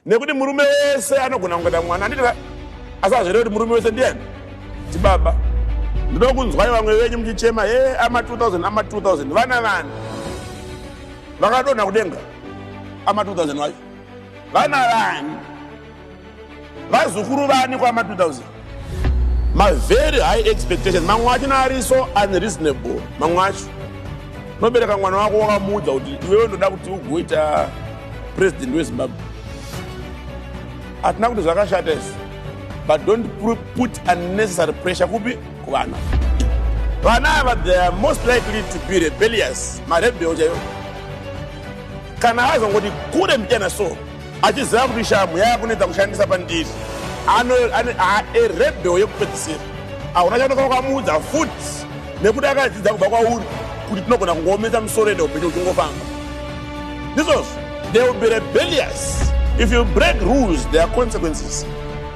Nekuti murume wese anogona kungata mwana anditi asazvere kuti murume wese ndiani tibaba ndinoda kunzwai vamwe venyu muchichema he ama 2000 ama 2000 vana vani vakadonha kudenga ama 2000 vacho vana vani vazukuru vani kwama 2000 ma very high expectations mamwe acho naari so unreasonable mamwe acho unobereka mwana wako wakamuudza kuti iwewe ndoda kuti ugoita president wezimbabwe hatina kuti zvakashata izvi but don't put unnecessary pressure kupi kuvana vana ava they are most likely to be rebellious marebel chaivo kana azongoti kure mbichana so Achiziva kuti shamhu yava kunetsa kushandisa pandiri, aerebheo yekupedzisira. Hauna chanoka wakamuudza futi nekuti akadzidza kubva kwauri kuti tinogona kungoomesa misoro yedu upenyu uchingofamba. Ndizvozvo, they will be rebellious. If you break rules, there are consequences.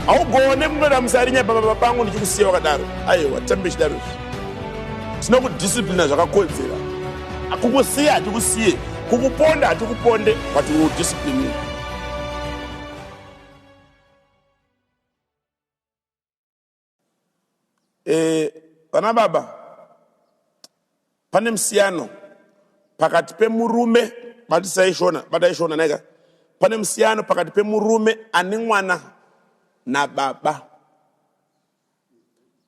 Haugone kunoda musarinya pababa pangu ndichikusiya wakadaro. Aiwa, tambe chidaro izvi. Tinokudisciplina zvakakodzera. Kukusiya hatikusiye, kukuponda hatikuponde, but we will discipline you. Eh, vana baba, pane musiyano pakati pemurume batisai shona batai shona naika pane musiyano pakati pemurume ane mwana nababa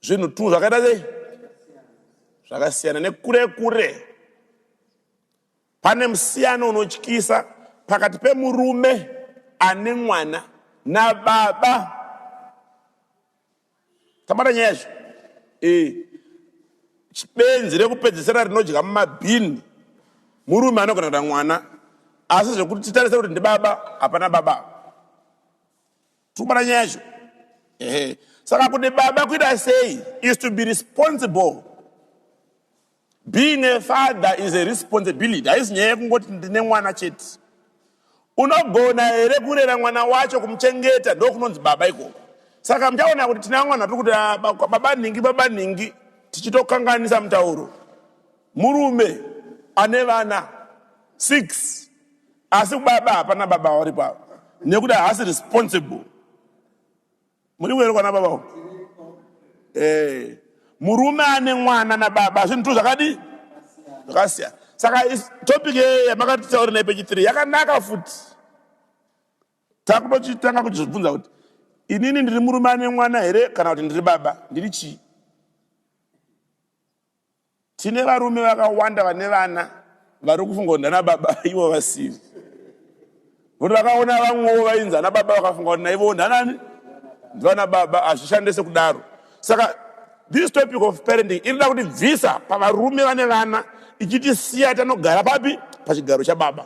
zvinhu two zvakaita sei zvakasiyana nekure kure pane musiyano unotyisa pakati pemurume ane mwana nababa tabata nyaya izvo ee benzi rekupedzisira rinodya mumabhini murume anogona kuda mwana asi zvekuti titarise kuti ndibaba hapana baba Tuma na nyaya yacho. Ehe. Saka kuti baba kuita sei is to be responsible. Being a father is a responsibility. Haisi nyaya yekungoti ndine mwana chete. Unogona here kurera mwana wacho kumuchengeta ndokunonzi baba ikoko. Saka muchaona kuti tina mwana tiri kuti ah, ba- baba nhingi baba nhingi tichitokanganisa mutauro. Murume ane vana six Asi kubaba hapana baba varipo ava nekuti haasi responsible. Muripo here kwana baba uko? Eh, murume ane mwana nababa zvinhu tu zvakadii? Zvakasiyana. Saka is- topic ye- yamakatitaura naye pechi 3 yakanaka futi. Takutotanga kuzvibvunza kuti inini ndiri murume ane mwana here kana kuti ndiri baba? Ndiri chii? Tine varume vakawanda vane vana vari kufunga kuti ndana baba ivo vasiri. Kuti vakaona vamwewo vainzi ana baba vakafunga kuti naivowo ndanani? Ndivana baba, hazvishande sekudaro. Saka this topic of parenting inoda kuti bvisa pavarume vane vana ichitisiya tanogara papi? Pachigaro chababa.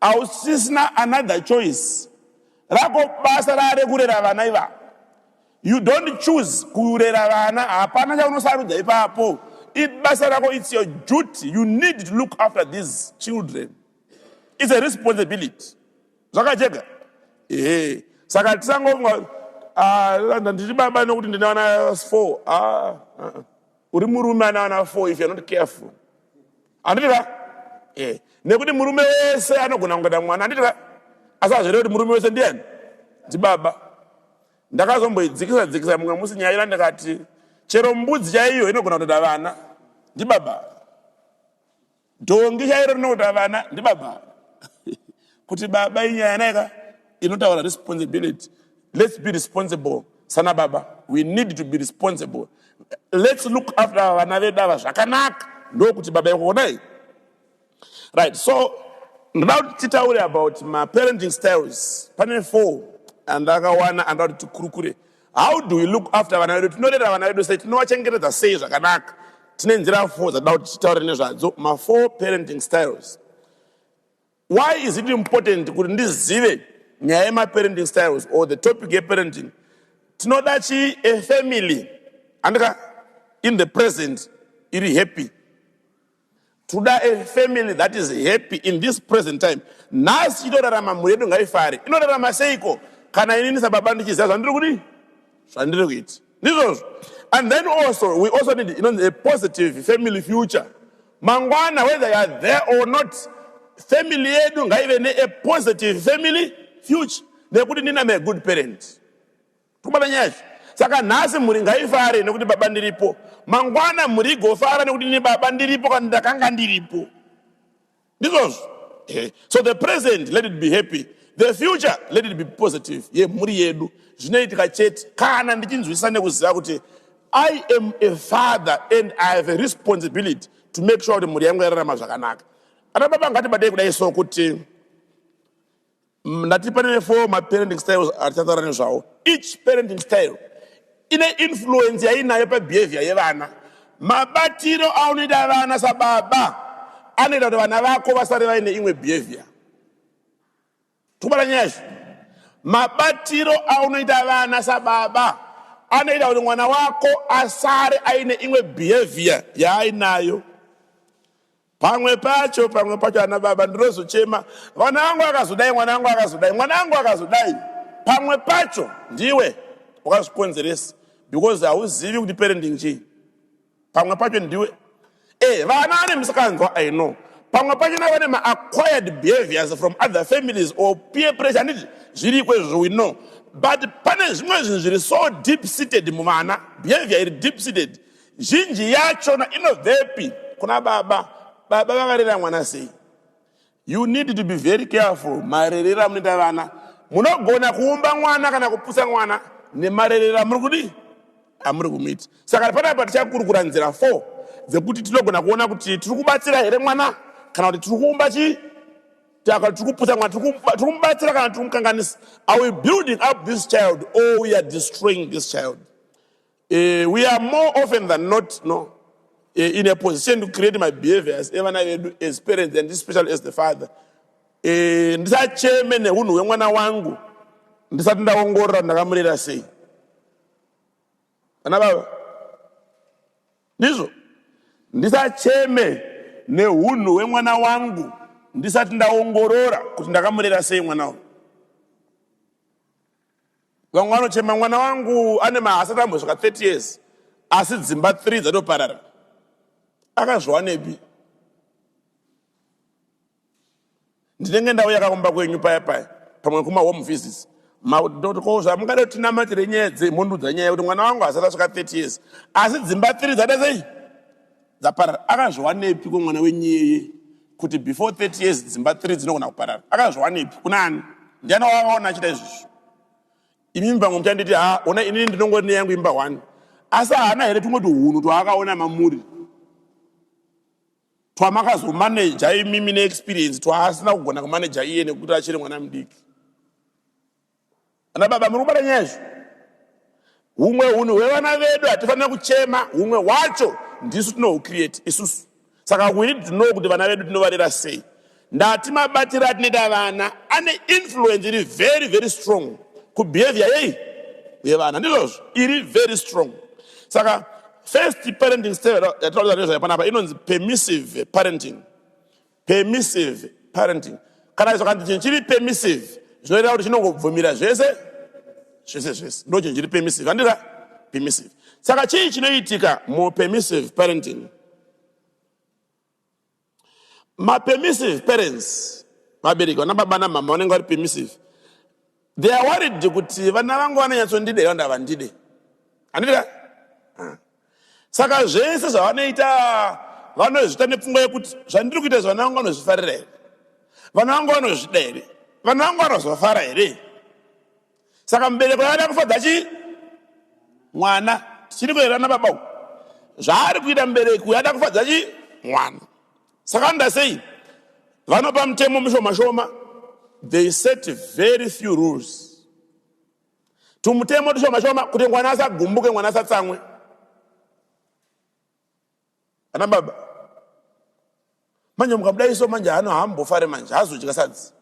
Hausisina another choice rako basa rave kurera vana ivavo. You don't choose kurera vana hapana chaunosarudza ipapo ibasa rako it's your duty you need to look after these children it's a responsibility zvakajega ehe saka tisangofunga ah, ndandiri baba nokuti ndine vana four ah, ah, ah. uri murume ane vana four if you're not careful Handiti ka? Eh, nekuti murume wese anogona kungeta mwana, handiti ka? Asi hazvireve kuti murume wese ndiani? Ndibaba. Ndakazomboidzikisa dzikisa mumwe musi nyaya ira ndikati chero mbudzi chaiyo inogona kutoda vana. Ndibaba. Dhongi chairo rinokuda vana. Ndibaba. kuti baba inyaya naika inotaura responsibility let's be responsible sana baba we need to be responsible let's look after ava vana vedu ava zvakanaka ndokuti baba ikuonai right so ndoda kuti titaure about maparenting styles pane four andakawana andoda kuti tikurukure how do we look after vana vedu tinorera vana vedu sei tinovachengetedza sei zvakanaka tine nzira four dzatoda kuti titaure nezvadzo mafour parenting styles Why is it important kuti ndizive nyaya yemaparenting styles or the topic yeparenting? Tinoda chi a family andika in the present iri happy toda a family that is happy in this present time nhasi itorarama mhuri yedu ngaifare inorarama seiko kana ini ndisababa ndichiziva zvandiri kudi zvandiri kuiti ndizvozvo and then also we also need inonzi a positive family future Mangwana whether you are there or not, family yedu ngaive ne a positive family future nekuti ndina me good parent. Kubata nyaya izvi. Saka nhasi mhuri ngaifare nekuti baba ndiripo. Mangwana mhuri igofara nekuti ini baba ndiripo kana ndakanga ndiripo. Ndizvozvo. Eh, so the present let it be happy. The future let it be positive. Ye mhuri yedu. Zvinoitika chete kana ndichinzwisisa nekuziva kuti I am a father and I have a responsibility to make sure kuti mhuri yangu yararama zvakanaka. Ana baba ngatibatei kudai so kuti ndati pane four maparenting styles atichataura nezvawo. Each parenting style ine influence yainayo pabehavior yevana. Mabatiro aunoita vana sababa anoita kuti vana vako vasare vaine imwe behavior. Kubata nyaya izvi mabatiro aunoita vana sababa anoita kuti mwana wako asare aine imwe behavior yaainayo pamwe pacho pamwe pacho ana baba ndinozochema vana vangu akazodai mwana wangu akazodai mwana wangu akazodai pamwe pacho ndiwe wakazvikonzeresa because hauzivi kuti parenting chii pamwe pacho ndiwe eh vana ane misikanzwa i know pamwe pacho na vane ma acquired behaviors from other families or peer pressure handiti zviriko izvozvo we know but pane zvimwe zvinhu zviri so deep seated muvana behavior iri deep seated zhinji yachona inobvepi kuna baba baba vakarera mwana sei You need to be very careful marerero amunoita vana. Munogona kuumba mwana kana kupusa mwana nemarerero amuri kudii amuri kumuita. Saka panapa tichakurukura nzira four dzekuti tinogona kuona kuti tiri kubatsira here mwana kana kuti tiri kuumba chii taka tiri kupusa mwana tiri kuba- tiri kumubatsira kana tiri kumukanganisa. Are we building up this child or we are destroying this child? Uh, we are more often than not no, uh, in a position to create my behaviors evana vedu as parents and especially as the father. Uh, ndisacheme neunhu hwemwana wangu ndisati ndaongorora ndakamurera sei ana baba ndizvo ndisacheme neunhu hwemwana wangu ndisati ndaongorora kuti ndakamurera sei mwana wangu vamwe vanochema mwana wangu ane mahasati ambosvika 30 years asi dzimba 3 dzatoparara akazviwanepi ndinenge ndauya kakumba kwenyu paya paya pamwe kuma home visits makutotiwo zvamungada kuti tinamatire nyaya dzemhundu dzanyaya kuti mwana wangu hasati asvika 30 years asi dzimba 3 dzada sei Dzaparara akazviwanepi ko mwana wenyu iyeye kuti before 30 years dzimba 3 dzinogona kuparara akazviwanepi kuna ani ndiani wakaona achita izvozvo imimi pamwe muchanditi ha ona inini ndinongori neyangu imba one asi haana here tumwe tuhunhu twaakaona mamuri twamakazomaneja imimi neexperience twaasina kugona kumaneja iye nekuti achiri mwana mudiki Ana baba muri kubata nyaya izvo. Humwe hunhu hwevana vedu hatifanira kuchema, humwe hwacho ndisu tinohucreate isusu. Saka we need to know kuti vana vedu tinovarera sei. Ndati mabatire atinoita vana ane influence iri very very strong kubehavior yei yevana ndizvozvo iri very strong. Saka first parenting style yatinotaura nezvayo panapa inonzi permissive parenting. permissive parenting kana zvakanzi chinhu chiri permissive zvinoreva kuti chinongobvumira zvese zvese zvese ndo chinhu chiri permissive andira permissive saka chii chinoitika mupermissive parenting mapermissive parents vabereki vana baba namama vanenge vari permissive They are worried kuti vana vangu vanonyatsondida ivo ndavandide. Handiti ka? Ah. Saka zvese zvavanoita vanozviita nepfungwa yekuti zvandiri kuita izvi vana vangu vanozvifarira here? Vana vangu vanozvida here? Vana vangu vanozofara here? Saka mubereko yaada kufadza chii? Mwana. Tichiri kuerana baba uyu. Zvaari kuita mubereki uyu ada kufadza chii? Mwana. saka anoda sei vanopa mutemo mishoma shoma they set very few rules tumutemo tushoma shoma kuti mwana asagumbuke mwana asatsamwe ana baba manje mukabudaiso manje hano haambofare manje hazochikasadzi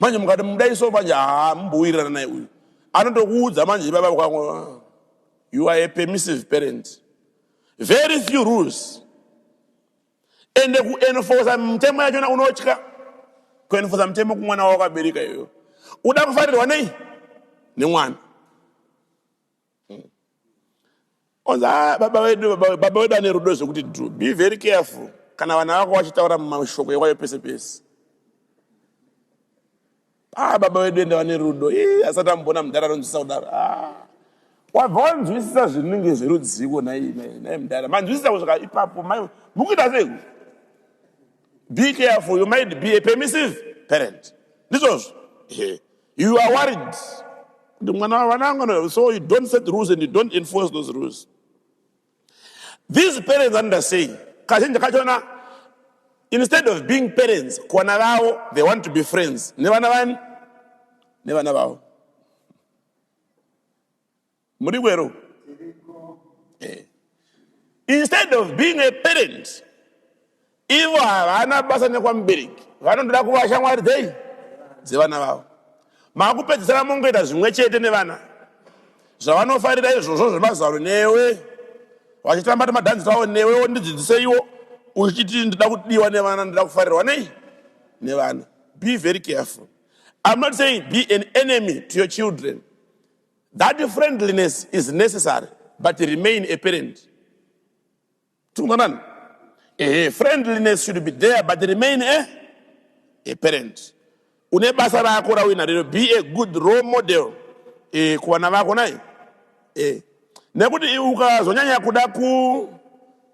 manje mukati mudai so manje haa mumbowirirana naye uyu anotokuudza manje baba kwangu ah, you are a permissive parent very few rules ende kuenforsa mitemo yachona unotya kuenforsa mitemo kumwana wawakabereka iyoyo uda kufarirwa nei nemwana Onzi ah, baba wedu baba wedu baba wedu ane rudo zvekuti do be very careful kana vana vako vachitaura mashoko ekwayo pese pese ah baba wedu ende vane rudo ii asati amboona mudhara anonzwisisa kudaro ah wabva wanzwisisa zvinenge zverudziko nhai nhai nhai mudhara manzwisisa kusvika ipapo mai mukuita sei be careful you might be a permissive parent ndizvozvo Ehe. You are worried kuti mwana wavana angano so you don't set rules and you don't enforce those rules. These parents under saying kazhinji kachona instead of being parents kwana vavo they want to be friends nevana vani nevana vavo Muri kwero? Eh. Instead of being a parent, ivo havana basa nekwamubereki vanondoda kuva shamwari dzei dzevana vavo makupedzisira mongoita zvimwe chete nevana zvavanofarira izvozvo zvemazano newe vachitamba nemadhanzi tavo newe wondidzidziseiwo uchiti ndoda kudiwa nevana ndoda kufarirwa nei nevana be very careful i'm not saying be an enemy to your children That friendliness is necessary but remain a parent. Tikumbonana. Eh, friendliness should be there but remain a, a parent. Une basa rako rawina rero be a good role model eh, kuvana vako nai. Eh. Nekuti ukazonyanya kuda ku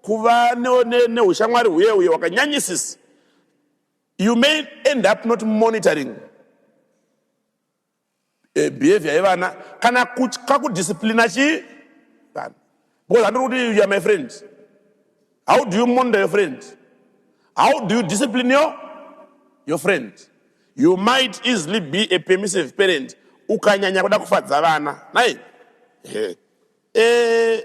kuva neushamwari ne, ne huye huye wakanyanyisisa you may end up not monitoring eh, behavior yevana kana kutya kudisciplina chii vana because handiri kuti you are my friend how do you monitor your friend how do you discipline your, your friend you might easily be a permissive parent ukanyanya kuda kufadza vana nai hey. Eh,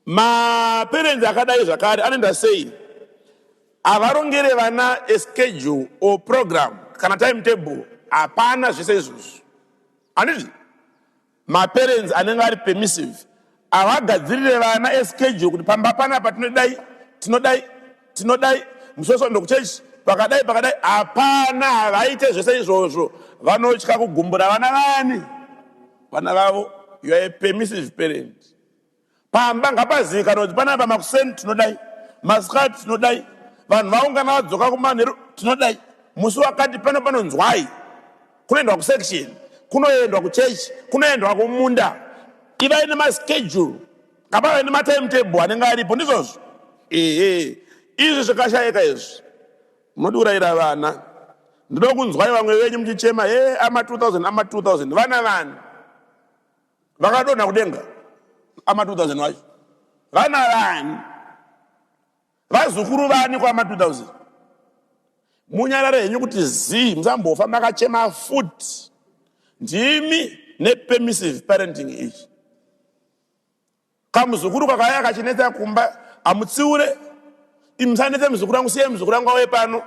maparents akadai zvakare anoenda sei havarongere vana a schedule or program kana time table hapana zvese izvozvo anditi maparents anenge ari permissive havagadzirire vana a schedule kuti pamba panapa tinodai tinodai tinodai musoso ndokuchechi pakadai pakadai hapana havaite zvese izvozvo vanotya kugumbura vana vani Vana vavo you are a permissive parent. Pamba ngapazivikanwe kuti panapa makuseni tinodai, masikati tinodai, vanhu vaungana vadzoka kumanheru tinodai, musi wakati pano panonzwai, kunoendwa kusection, kunoendwa kuchechi, kunoendwa kumunda. Ivai nemaschedule, ngapave nematimetable anenge aripo, ndizvozvo. Ehe, izvi zvikashaika izvi. Munodiurayira vana ndinokunzwai vamwe venyu muchichema he ama 2000 ama 2000 vana vani vakadonha kudenga ama 2000 vacho vana vani vazukuru vani kwama 2000 munyarare henyu kuti zii musambofa makachema futi ndimi nepermissive parenting iyi Kamuzukuru kakauya kachinetsa kumba amutsiure imi musanetse muzukuru wangu siyai muzukuru wangu auye pano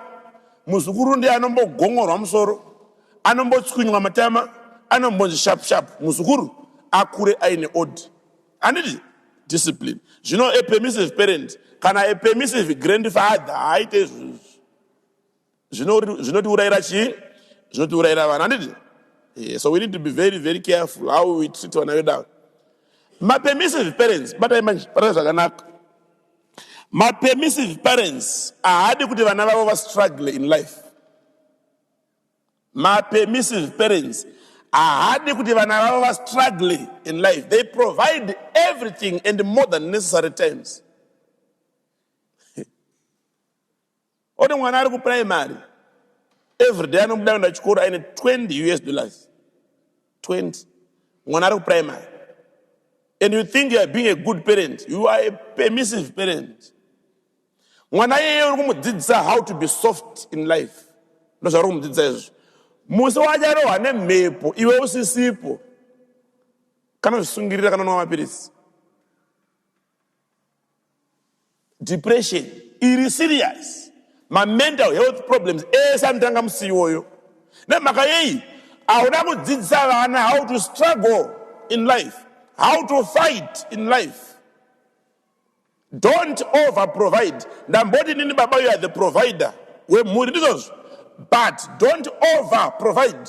muzukuru ndiye anombogongorwa musoro anombotswinywa matama anombonzi sharp sharp muzukuru akure aine order handiti discipline zvino a permissive parent kana a permissive grandfather haaite izvozvo zvinotiurayira chii zvinotiurayira vana handiti eh, so we need to be very very careful how we treat vana vedu ava mapermissive parents batai manje batai zvakanaka mapermissive parents ahadi kuti vana vavo vastruggle in life mapermissive parents ahadi kuti vana vavo vastruggle in life they provide everything and more than necessary times One mwana ari kuprimary everyday anobuda kuenda chikoro aine 20 us dollars 20 mwana ari kuprimary and you think youare being a good parent you are a permissive parent mwana iyeye uri kumudzidzisa how to be soft in life ndozvauri kumudzidzisa izvo musi wacharohwa nemhepo iwe usisipo kanozvisungirira kanonwa mapiritsi depression iri serious mamental health problems ese anotanga musi iwoyo nemhaka yei hauna kudzidzisa vana how to struggle in life how to fight in life don't over provide ndamboti nini baba you are the provider wemhuri ndizvozvo but don't over provide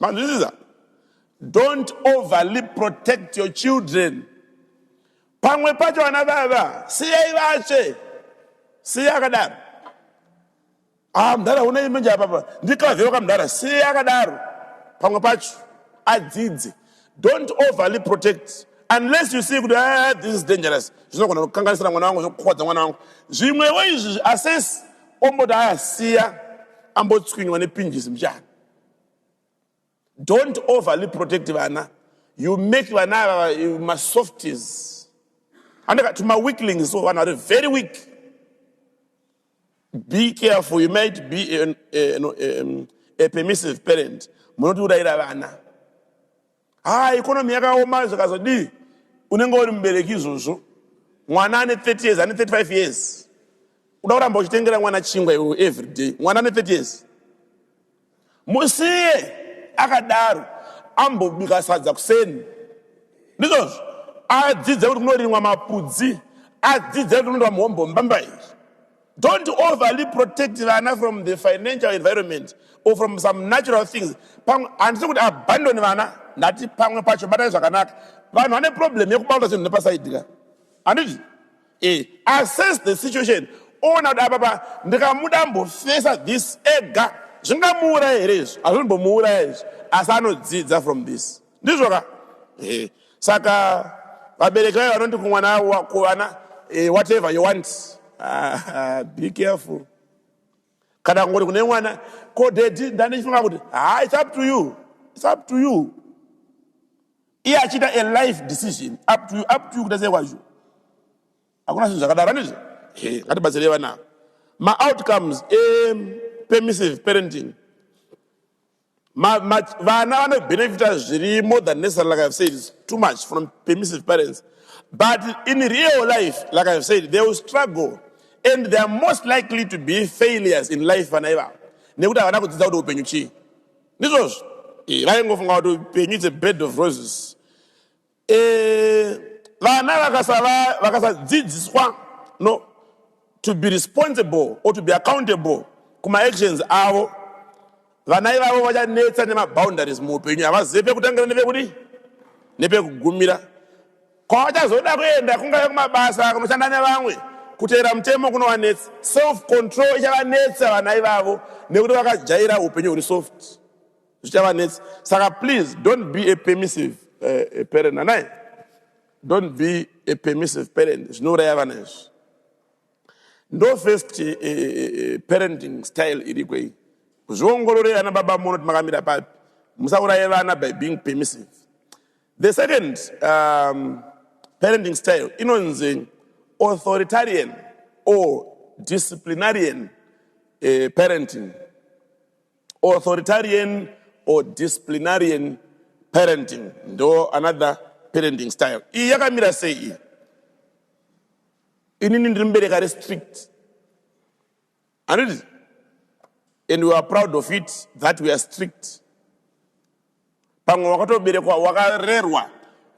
Manzwisisa? Don't overly protect your children. Pamwe pacho vana baba siyai vatsve. Siya akadaro. Ah, mdara huna imenje apapa. Ndikavheuka mdara siya akadaro. Pamwe pacho adzidze. Don't overly protect unless you see kuti ah, this is dangerous zvinogona kukanganisira mwana wangu zvokukwadza mwana wangu zvimwewo izvi assess omboti aya siya ambotswinywa nepinjisi mchana don't overly protect vana you make vana ava eh, masofties andikati maweaklings so vanhu vari very weak Be careful, you might be an, a, no, a, um, a permissive parent. Munotiurayira vana. Ah, economy yakaoma zvakazodii? Unenge uri mubereki izvozvo. Mwana ane 30 years, ane 35 years. Uda kuramba uchitengera mwana chingwa iwe every day. Mwana ane 30 years. Musiye akadaro ambobika sadza kuseni. Ndizvozvo adzidze kuti kunorimwa mapudzi, adzidze kuti kunoitwa mhombo mbamba izvi. Don't overly protect vana from the financial environment or from some natural things. Pamwe handisi kuti abandon vana, ndati pamwe pacho batai zvakanaka. Vanhu vane problem yekubata zvinhu nepasaidika. Handiti? Eh, assess the situation ona kuti apapa ndikamuda mbofesa this ega zvingamuuraya here izvi hazvimbomuuraya izvi asi anodzidza from this ndizvo ka eh, saka vabereki vaye vanondi kumwana kuvana eh, whatever you want ah, ah, be careful kana kungoti kune mwana ko daddy ndandichifunga kuti haa its up to you its up to you iye achiita a life decision up to you up to you kuita sei kwacho hakuna zvinhu zvakadaro andizvo ngatibatsirei vana maoutcomes epermissive parenting Ma, ma, vana vanobenefita zviri more than necessary like i've said it's too much from permissive parents but in real life like i've said they will struggle and they are most likely to be failures in life vana ivavo nekuti havana kudzidza kuti upenyu chii ndizvozvo Eh, vaingofunga kuti upenyu it's a bed of roses Eh vana vakasava vakasadzidziswa no to be responsible or to be accountable kuma actions avo vana ivavo vachanetsa nemaboundaries muupenyu havazive pekutangira nepekudi nepekugumira kwavachazoda kuenda kungave kumabasa kunoshanda nevamwe kuteera mutemo kunowanetsa self control ichavanetsa vana ivavo nekuti vakajaira upenyu huri soft zvichavanetsa saka please don't be a permissive uh, parent anai don't be a permissive parent zvinouraya vana izvi ndo first uh, uh, parenting style iriko iyi zviongorore ana baba muno kuti makamira papi musauraye vana by being permissive the second um, parenting style inonzi authoritarian or disciplinarian uh, parenting authoritarian or disciplinarian parenting ndo another parenting style iyi yakamira sei iyi inini ndiri mubereka restrict anditi and we are proud of it that we are strict pamwe wakatoberekwa wakarerwa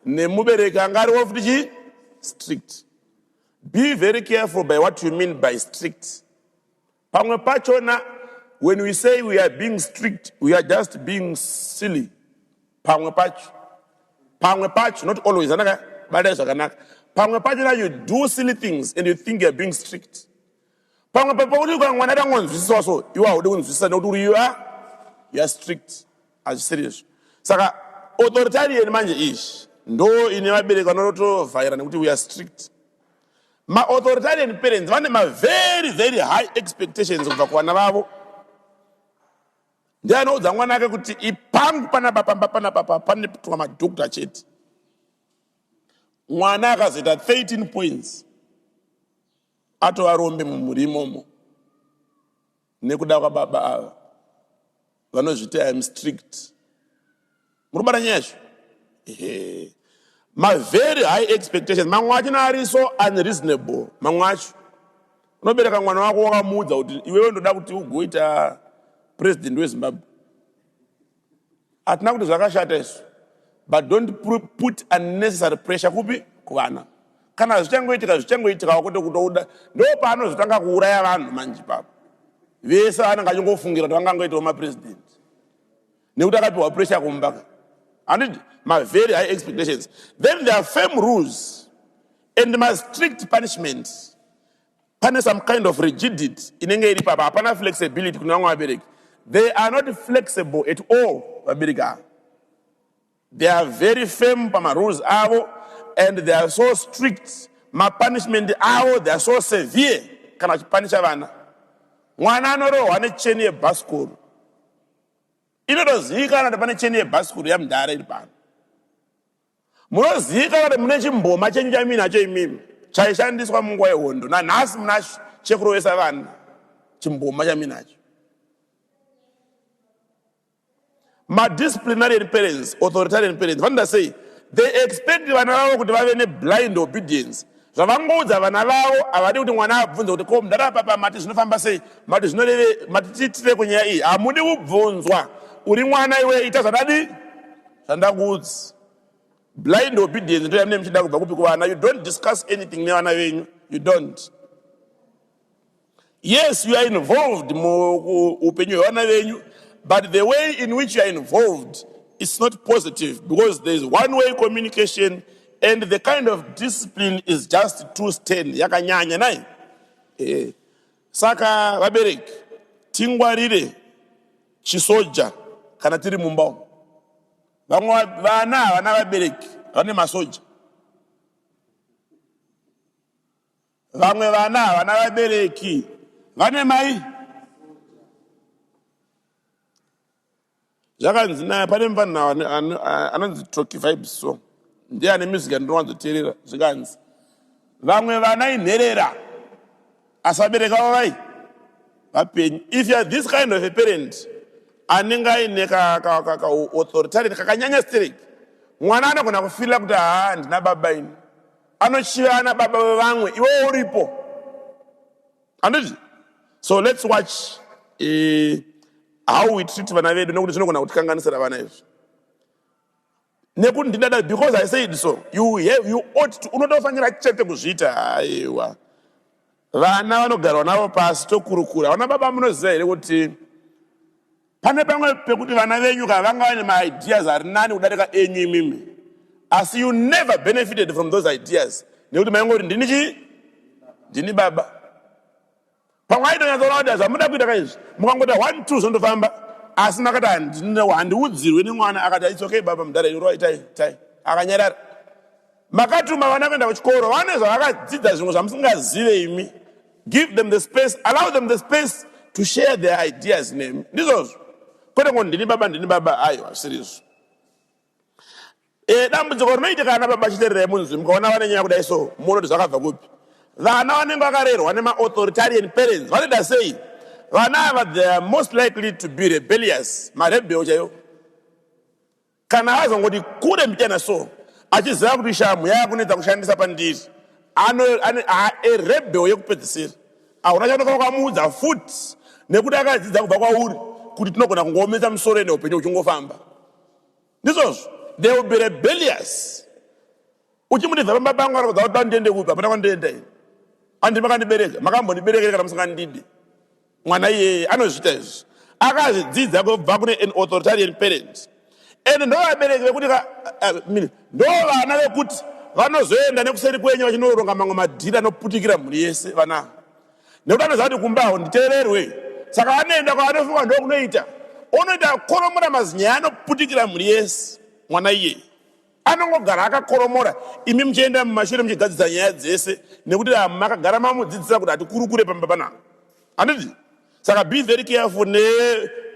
nemubereki anga ari wofuti chii strict be very careful by what you mean by strict Pamwe pachona when we say we are being strict, we are just being silly. Pamwe pacho. Pamwe pacho, not always. Anaka, bada zvakanaka. Pamwe pachona you do silly things and you think you are being strict. Pamwe pacho pakuti kwa mwana dangonzwisisa so, you are kunzwisisa nekuti you are you are strict. Hazvisiri izvo. Saka authoritarian manje izvi ndo ine vabereki vanotovhaira nekuti we are strict. Ma authoritarian parents vane ma very very high expectations kubva kuvana vavo. Ndiye anoudza mwana ake kuti ipangu panapa pamba panapa pa paneputwa madhokta chete. Mwana akazoita 13 points atova rombe mumhuri imomo. Nekuda kwababa ava vanozviti I am strict. Murikubata nyaya yacho? Ehe. Ma very high expectations mamwe acho ari so unreasonable mamwe acho. Unobereka mwana wako wakamuudza kuti iwewe ndoda kuti ugoita president weZimbabwe. hatina kuti zvakashata isu but don't put unnecessary pressure kupi kuvana kana zvichangoitika zvichangoitikawo kwete kutouda ndo paanozotanga kuuraya vanhu manje papo vese vanenge achingofungira kuti vangangoitawo mapresident nekuti akapiwa pressure kumba handiti mavery high expectations then there are firm rules and mastrict punishments Pane some kind of rigidity inenge iri papa, hapana flexibility kune vamwe vabereki. They are not flexible at all vabereki ava. They are very firm pama rules avo and they are so strict. Ma punishment avo they are so severe kana vachipanisha vana. Mwana anorohwa necheni yebhasikoro. Inotozivikanwa kuti pane cheni yebhasikoro yamdhara iri pano. Munozivikanwa kuti mune chimboma chenyu chamuinacho imimi chaishandiswa munguva yehondo. Nanhasi muna shekuru vese vana chimboma chamuinacho. Madisciplinarian parents, authoritarian parents vanoda sei? They expect vana vavo kuti vave neblind obedience. Zvavangoudza vana vavo havadi kuti mwana abvunze kuti ko mudhara papa mati zvinofamba sei? Mati zvinoreve mati tiitire kunyaya iyi. Hamudi kubvunzwa. Uri mwana iwe ita zvadadi. zvandakuudzi blind obedience ndoya mune muchida kubva kupi kuvana you don't discuss anything nevana venyu you don't yes you are involved muupenyu hwevana venyu but the way in which you are involved is not positive because there is one way communication and the kind of discipline is just too stern yakanyanya nai eh. Saka vabereki tingwarire chisoja kana tiri mumba umu. Vamwe vana havana vabereki vane masoja. Vamwe vana havana vabereki vane mai. zvakanzi naya pane mvanhu anonzi troki vibe so ndiye ane music andinowanzoteerera zvikanzi vamwe vana inherera asabereka vavai vapenyu if youare this kind of a parent anenge aine kaauthoritarit kakanyanya sterek mwana anogona kufirira kuti haa ndina baba ini anochiva ana baba vevamwe iwewo uripo handiti so let's watch uh, how we treat vana vedu nekuti zvinogona kutikanganisira vana izvi nekuti ndidada because i said so you have you ought to unotofanira chete kuzviita aiwa vana vanogarwa navo pasi tokurukura vana baba munoziva here kuti Pane pamwe pekuti vana venyu ka vanga vane maideas ari nani kudarika enyu imimi asi you never benefited from those ideas nekuti maingoti ndini chii ndini baba pamwe aitonyatsoona kuti zvamuda kuita ka izvi mukangota one two zvondofamba asi makati handiudzirwe nemwana akati it's okay baba mudhara iroi tai tai akanyarara makatuma vana kuenda kuchikoro vane zvavakadzidzazvimwe zvamusingazive imi Give them the space, allow them the space to share their ideas nemi. Ndizvozvo. Kwete ngo ndini baba ndini baba ayo hazvirizvo. Eh dambudziko rinoitika kana baba chiterere munzwi mukaona vane nyaya kudai so munoti zvakabva kupi? Vana vanenge vakarerwa nema authoritarian parents vanoita sei? Vana ava they are most likely to be rebellious, marebel chaiwo. Kana azongoti kure mbichana so achiziva kuti shamhu yava kunetsa kushandisa pandiri, ano aerebheo yekupedzisira. Ahuna chaunofana kuamuudza futi nekuti akadzidza kubva kwauri kuti tinogona kungoomesa musoro ende upenyu huchingofamba. Ndizvozvo, they will be rebellious. Uchimudidza pamba pangu anokuudza kuti ndiende kupi, hapana kwandienda ini. Handiti makandibereka, makambondibereka here kana musingandidi? Mwana iyeye anozviita izvi akazvidzidza kubva kune an authoritarian parent and ndovabereki vekuti ndovana vekuti vanozoenda nekuseri kwenyu vachinoronga mamwe madhiri anoputikira mhuri yese vana nekuti anoziva kuti kumbaho nditeererwe saka anoenda kwaanofunga ndokunoita onoita koromora mazinyaya anoputikira mhuri yese mwana iyeye Anongogara akakoromora imi muchienda mumashure muchigadzisa nyaya dzese nekuti makagara mamudzidzisa kuti hatikurukure pamba panapa. Handiti? Saka be very careful ne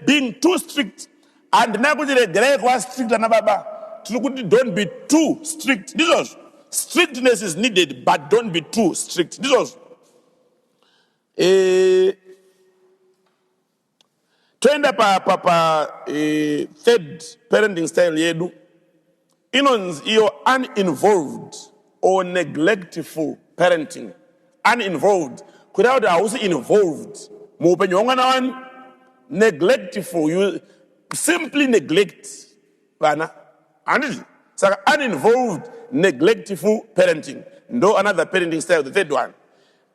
being too strict. Handina kuti regerai kuva strict ana baba. Tiri kuti don't be too strict. Ndizvozvo. Strictness is needed but don't be too strict. Ndizvozvo. Eh Toenda pa pa pa e, third parenting style yedu inonzi iyo uninvolved or neglectful parenting. Uninvolved kureva kuti hausi involved muupenyu hwemwana wani. Neglectful, you simply neglect vana, handiti? Saka uninvolved neglectful parenting ndo another parenting style, the third one.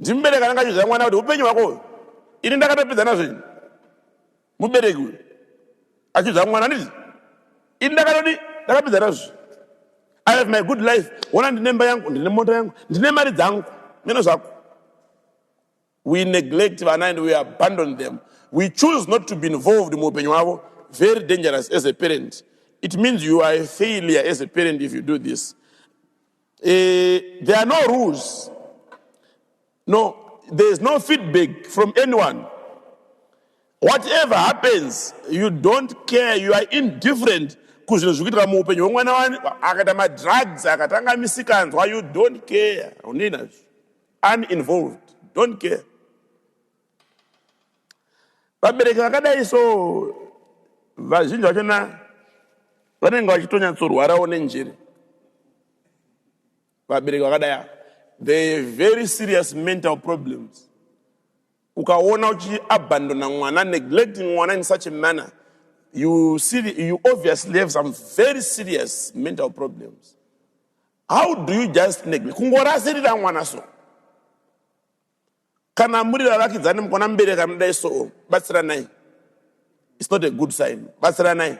Ndimubereki anenge achizvira mwana kuti upenyu hwako uyu. Ini ndakatopedza nazvo ini. Mubereki uyu. Achizvira mwana ndizvi. Ini ndakatodi ndakapedza nazvo. I have my good life. Wona ndine mba yangu, ndine mota yangu, ndine mari dzangu. Mino zvako. We neglect vana and we abandon them. We choose not to be involved muupenyu hwavo. Very dangerous as a parent. It means you are a failure as a parent if you do this. Uh, there are no rules. No, there is no feedback from anyone. Whatever happens, you don't care, you are indifferent kuzvinhu zviri kuitika muupenyu hwemwana wani akaita madrugs akatanga misikanzwa you don't care unina uninazvo uninvolved don't care Vabereki vakadai so vazhinji vachona vanenge vachitonyatsorwarawo nenjere. Vabereki vakadai ava the very serious mental problems. Ukaona uchiabandona mwana, neglecting mwana in such a manner, you, see, you obviously have some very serious mental problems. How do you just neglect? Kungorasirira mwana so. Kana muri vavakidzani mukaona mubereki anodai so, batsiranai. It's not a good sign. Batsiranai.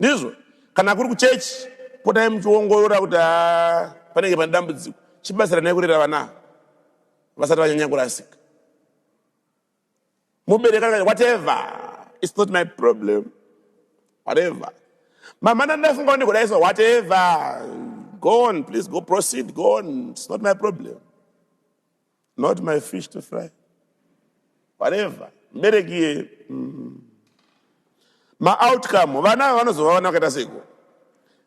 Ndizvo. Kana kuri kuchechi, potai muchiongorora kuti ah, panenge pane dambudziko. Chibatsiranai kurera vana vasati vanyanya kurasika. Mubereki anodai, whatever. It's not my problem. Whatever. Mama ndandafunga kuti kudai so, whatever. Go on, please go proceed, go on. It's not my problem. not my fish to fry whatever mbereki iye mm. maoutcome vana ava vanozova vana vakaita seiko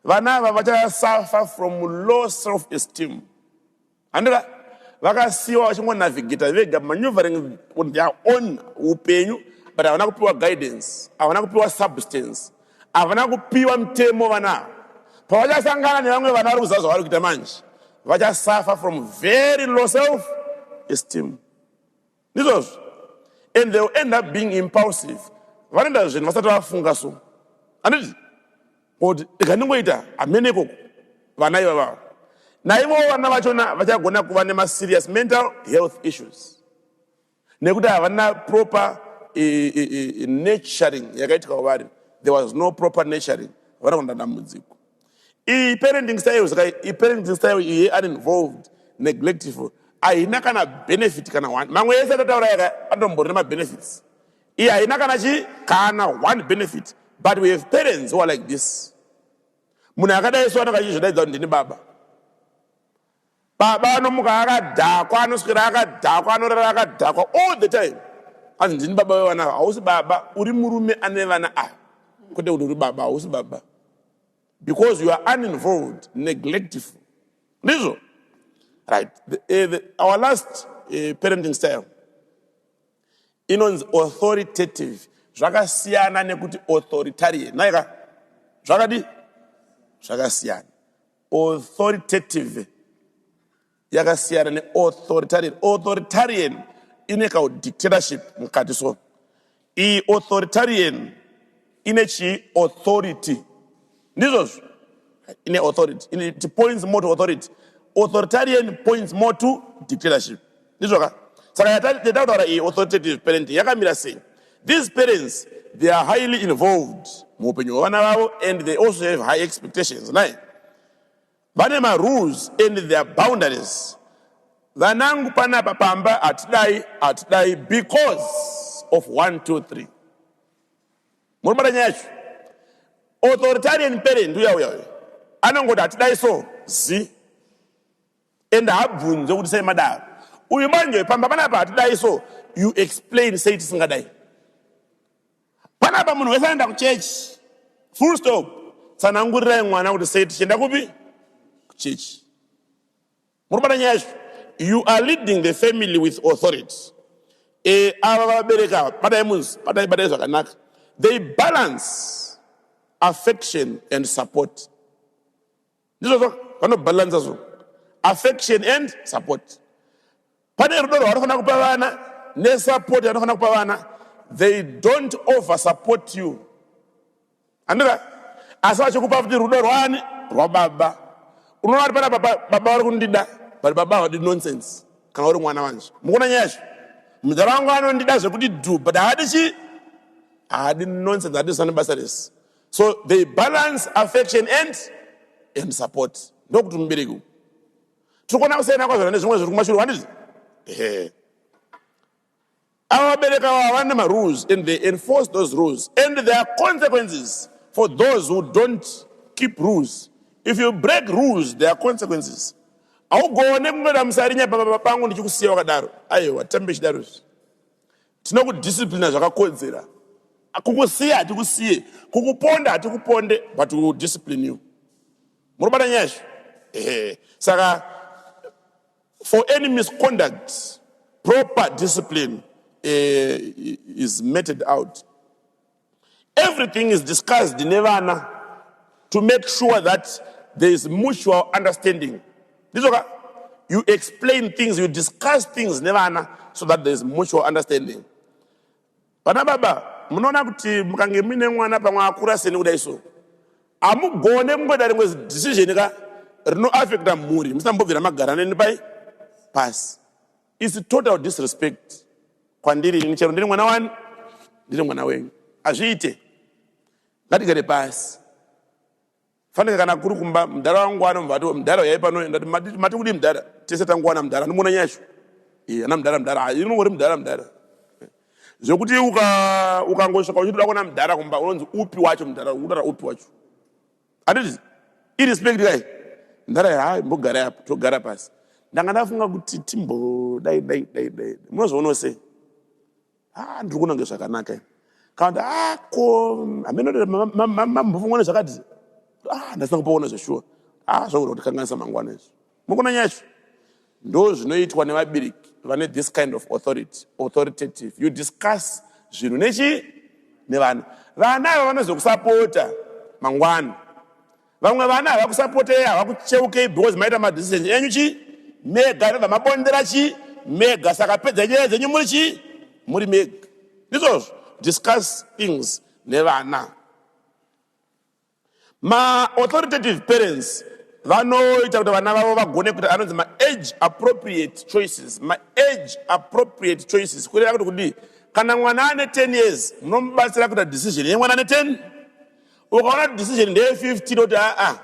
vana ava vachasuffer from low self esteem handira vakasiyiwa vachingonavigata vega maneuvering on their own upenyu but havana kupiwa guidance havana kupiwa substance Havana kupiwa mutemo vana ava. Pavachasangana nevamwe vana vari kuziva zvavari kuita manje vachasuffer from very low self esteem. Ndizvozvo. And they will end up being impulsive. Vanoenda zvinhu vasati vafunga so. Handiti? Kuti rega ndingoita hamene ikoko vana ivavavo. Naivowo vana vachona vachagona kuva nemaserious mental health issues. nekuti havana proper e, e, e, nurturing yakaitwa kwavari there was no proper nurturing havana kuona dambudziko iyi parenting style saka iparenting style iyi uninvolved neglectful haina kana benefit kana one mamwe yese atataura yaka atomborina mabenefits iyi haina kana chi kana one benefit but we have parents who are like this munhu akadai so anenge achizvidaidza kuti ndini baba Baba anomuka akadhakwa, anoswera akadhakwa, anorara akadhakwa all the time. Hanzi ndini baba wevana ava. Hausi baba, uri murume ane vana ava. Kwete kuti uri baba, hausi baba. Because you are uninvolved, neglectful. Ndizvo? Right. The, uh, the, our last uh, parenting style inonzi authoritative zvakasiyana nekuti authoritarian naika zvakadi zvakasiyana Authoritative yakasiyana ne authoritarian. Authoritarian ine ka dictatorship mukati so. I authoritarian ine chi authority. Ndizvozvo. Ine authority. It points more to authority. Authoritarian points more to dictatorship. ndizvoka saka yataura iyi authoritative parenting yakamira sei these parents they are highly involved muupenyu hwevana vavo and they also have high expectations naye vane marules and their boundaries vanangu panapa pamba hatidai hatidai because of 123 muri mara nyaya yacho authoritarian parent uya uya uya anongoti hatidai so zi and haabvunzwe kuti sei madaro uyu manje pamba panapa hatidai so you explain sei tisingadai panapa munhu wese anoenda kuchechi full stop tsanangurirai mwana kuti sei tichienda kupi kuchechi muri kubata nyaya yacho you are leading the family with authority e, ava vabereki ava batai munzi batai batai zvakanaka they balance affection and support ndizvo zvo vanobhalanza zvo affection and support pane rudo rwavanofanira kupa vana nesupport yavanofanira kupa vana they don't over support you andira asi vachikupa futi rudo rwani rwababa unoona kuti panapa baba vari kundida but baba havadi nonsense kana uri mwana wanje mukuona nyaya yacho mudhara wangu anondida zvekuti du but haadi chii haadi nonsense haadi zvisana basa rese so they balance affection and and support ndokuti mubereki tiri kuona kusiyana kwazvana nezvimwe zviri kumashure wandizvi ehe ava vabereki ava havana nemarules and they enforce those rules and there are consequences for those who don't keep rules if you break rules there are consequences haugone kungoda musarinya pababa pangu ndichikusiya wakadaro aiwa tambe chidaro izvi Tinokudisciplina zvakakodzera. Kukusiya hatikusiye, kukuponda hatikuponde but we will discipline you. Muri kubata nyaya izvo? Ehe. Saka for any misconduct proper discipline eh, is meted out. Everything is discussed nevana to make sure that there is mutual understanding. Ndizoka, you explain things, you discuss things nevana so that there is mutual understanding. Vana baba, munoona kuti mukange muine mwana pamwe akura seni kudai so. Amugone kungoita rimwe decision ka rinoaffecta mhuri, musambobvira magara neni pai pasi. It's total disrespect kwandiri ini chero ndiri mwana wani ndiri mwana wenyu hazviite ngatigare pasi fanika kana kuri kumba mdhara wangu anomvati mdhara uyai pano ndati mati kudii mdhara tese tanguwana mdhara ndimona nyashu iye ana mdhara mdhara inongori mdhara mdhara zvekuti ukangosvika uchitoda kuona mdhara kumba unonzi upi wacho mdhara unotaura upi wacho Anditi irespect kai ndara hai mbogarai apa togara pasi ndanga ndafunga kuti timbodai dai dai dai munozvionawo sei ah ndiri kunange zvakanaka ini kana kuti ah ko hameno mambofunga nezvakati ah ndasina kumboona zveshuwa ah zvakuda kuti kanganisa mangwana izvi mukumenya izvo ndo zvinoitwa nevabereki vane this kind of authority authoritative you discuss zvinhu nechi nevana vana ava vanozokusapota mangwana vamwe vana havakusapotei havakucheukei because maita madecision enyu chi mega nobva mabondera chi mega saka pedza nyaya dzenyu muri chi muri mega ndizvozvo discuss things nevana Ma authoritative parents vanoita kuti vana vavo vagone kuita anonzi ma age appropriate choices. Ma age appropriate choices kureva kuti kudii? Kana mwana ane 10 years munomubatsira kuita decision yemwana ane 10. Ukaona kuti decision ndeye 15 oti aa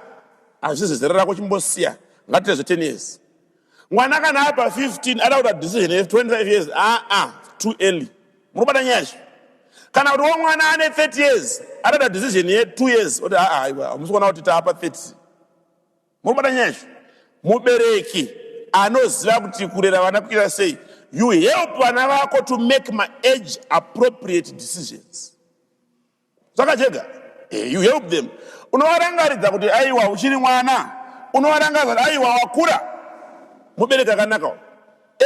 hazvizi zera rako chimbosiya ngatiite zve 10 years. mwana kana apa 15 ada kuta decision 25 years aa ah, ah, too early murubata nyaya zvi kana kuti wo mwana ane 30 years ada kuta decision ye 2 years oti aa ah, aiwa hamusi kuona kuti taapa 30 murubata nyaya zvi mubereki anoziva kuti kurera vana kuita sei you help vana vako to make maage appropriate decisions Saka chega eh, you help them. Unovarangaridza kuti aiwa uchiri mwana. Unovarangaridza kuti aiwa wakura. Mubereki akanaka.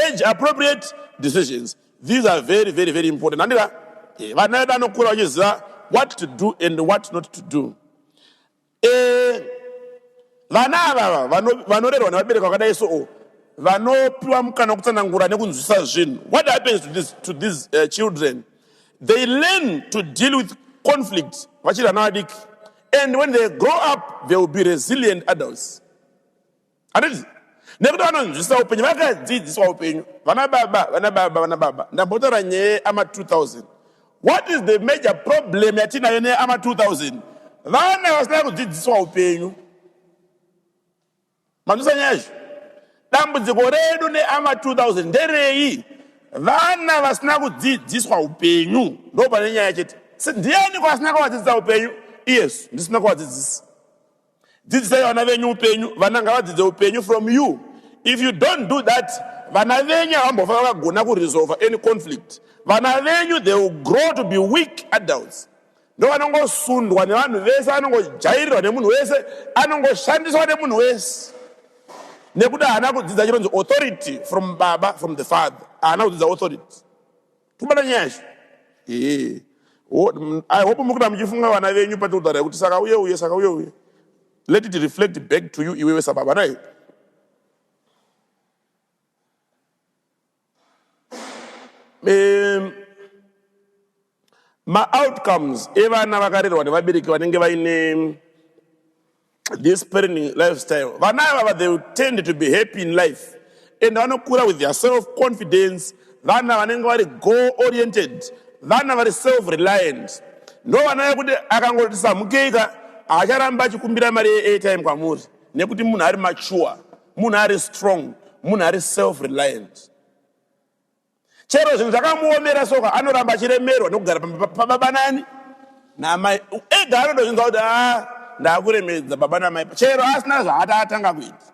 Age appropriate decisions. These are very very very important. Handira eh, vana vedu anokura vachiziva what to do and what not to do. Eeh vana avava vano, vanorerwa nevabereki vakadai so oh, vanopiwa mukana wekutsanangura nekunzwisisa zvinhu. What happens to these, to these uh, children? They learn to deal with conflict vachiri vana vadiki and when they grow up they will be resilient adults. handiti nekuti vanonzwisisa upenyu vakadzidziswa upenyu vana baba vana baba vana baba ndambotaura nyaya ama 2000 what is the major problem yatinayo neama 2000 vana vasina kudzidziswa upenyu manzwisa nyaya izvo dambudziko redu neama 2000 nderei vana vasina kudzidziswa upenyu ndo pane nyaya chete ndiani kwasina kuvadzidzisa upenyu iyesu ndisina kuvadzidzisa Dzidzisai vana venyu upenyu. Vana ngavadzidze upenyu from you. If you don't do that, vana venyu havambofa vakagona kuresolve any conflict. Vana venyu they will grow to be weak adults. Ndovanongosundwa nevanhu vese, anongojairirwa nemunhu wese, anongoshandiswa nemunhu wese. Nekuda haana kudzidza chironzi authority from baba, from the father. Haana kudzidza authority. Kubata nyaya izvi. Hii. I hope muri kuda muchifunga vana venyu patotara yekuti saka uye uye saka uye uye. Let it reflect back to you iwewe sababa naye. Um, maoutcomes evana vakarerwa nevabereki vanenge vaine this parenting lifestyle vana ivava they tend to be happy in life and vanokura with their self confidence vana vanenge vari goal oriented vana vari self reliant ndo vana vekuti akangoti samukeika haacharamba achikumbira mari yeairtime kwamuri nekuti munhu ari mature munhu ari strong munhu ari self reliant Chero zvinhu zvakamuomera soka anoramba achiremerwa nekugara pamba pababa nani namai ega anodozvinzwa kuti a ndakuremedza baba namai chero asina zvaata atanga kuita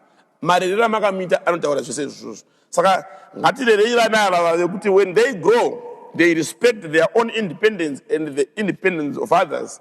marerero amakamuita anotaura zvese izvozvo saka ngatirerei vana ava vave kuti when they grow they respect their own independence and the independence of others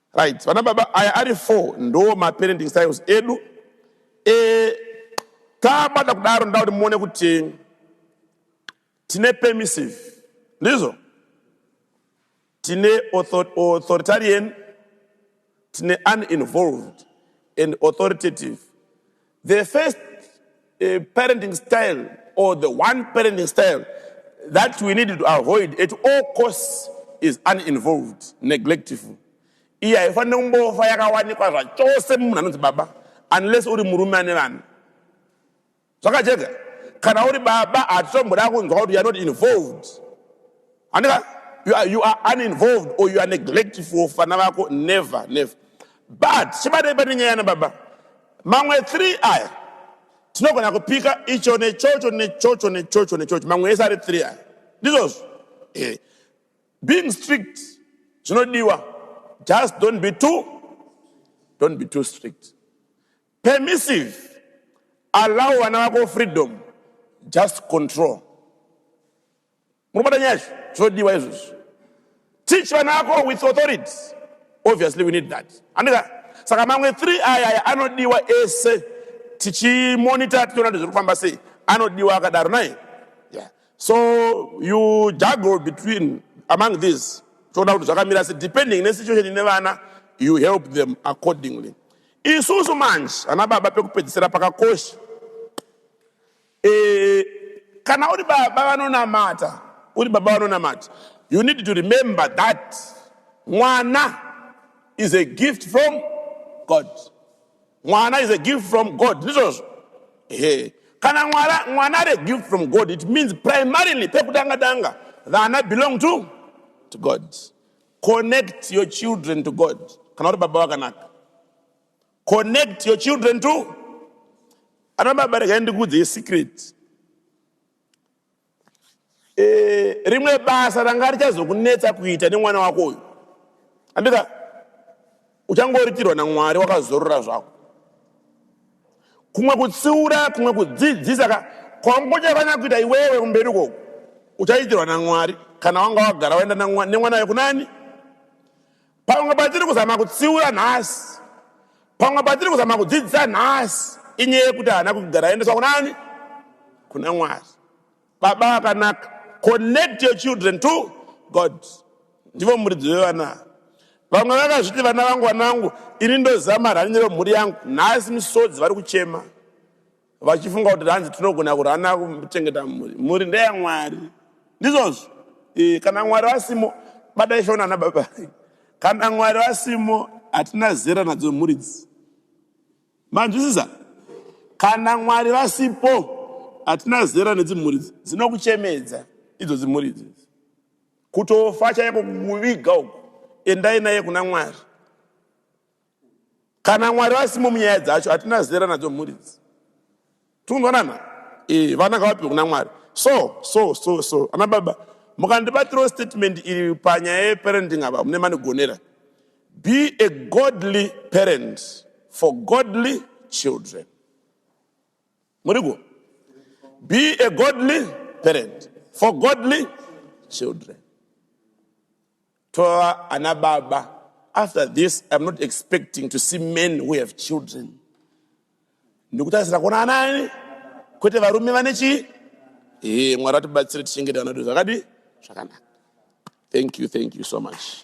Right, vana baba aya ari four ndo maparenting styles edu e, tabata kudaro ndoda kuti muone kuti tine permissive ndizvo tine authoritarian tine uninvolved and authoritative The first uh, parenting style or the one parenting style that we need to avoid at all costs is uninvolved, neglectful. Iya haifanire kumbofa yakawanikwa zvachose mumunhu anonzi baba unless uri murume ane vana. Zvakajeka. Kana uri baba hatitomboda kunzwa kuti you are not involved. Andika you are, you are uninvolved or you are neglectful fana vako never never. But chibadai pane nyaya yana baba. Mamwe three aya tinogona kupika icho nechocho nechocho nechocho nechocho mamwe ese ari three aya ndizvozvo eh. being strict zvinodiwa just don't be too don't be too strict permissive allow vana vako freedom just control Murikubata nyaya izvi zvodiwa izvozvi. Teach vana vako with authority. Obviously we need that. Andika saka mamwe 3 aya aya anodiwa ese tichimonita tichiona kuti zviri kufamba sei anodiwa akadaro nai yeah. so you juggle between among these toona kuti zvakamira se depending nesituation ine vana you help them accordingly isusu manje ana baba pekupedzisira pakakosha Eh, kana uri baba vanonamata uri baba vanonamata you need to remember that mwana is a gift from god mwana is a gift from god ndizvozvo ehe kana mwana mwana ari a gift from god it means primarily pekutanga tanga vana belong to to god connect your children to god kana uri baba vakanaka Connect your children to ana baba regai ndikuudze secret eh, rimwe basa ranga richazokunetsa kuita nemwana wako uyu andika uchangoritirwa namwari wakazorora zvako kumwe kutsiura kumwe kudzidzisa ka kwangochafanya kuita iwewe kumberi koko uchaitirwa namwari kana wanga wagara waenda nemwana wekunani Pamwe patiri kuzama kutsiura nhasi, pamwe patiri kuzama kudzidzisa nhasi inyaya yekuti haana kugara aendeswa kunani? Kuna Mwari. Baba akanaka, connect your children to God. Ndivo muridzi wevana. Vamwe vakazviti vana vangu, vana vangu, ini ndozama rani remhuri yangu. Nhasi misodzi vari kuchema. vachifunga kuti hanzi tinogona kurana kuchengeta mhuri mhuri ndeyamwari ndizvozvo e, kana mwari vasimo bata ishona ana baba kana mwari vasimo hatina zera nadzo mhuri dzi manzwisisa kana mwari vasipo hatina zera nedzimhuri dzi dzinokuchemedza idzo dzimhuri idzidzi kutofa chaiko kukuviga uku endai naye kuna mwari Kana Mwari vasimo munyaya dzacho hatina zera nadzo mhuri idzi. Tikunzwanana? Eh, vana ngavapiwe kuna Mwari. So, so, so, so. Ana baba, mukandibatirawo statement iri panyaya yeparenting apa mune manigonera. Be a godly parent for godly children. Muriko? Be a godly parent for godly children. Tova ana baba. After this, I'm not expecting to see men who have children. Ndikutarisira kuona ana ani? Kwete varume vane chii? Eh, Mwari atibatsire tichengete vana vedu zvakadi zvakanaka. Thank you, thank you so much.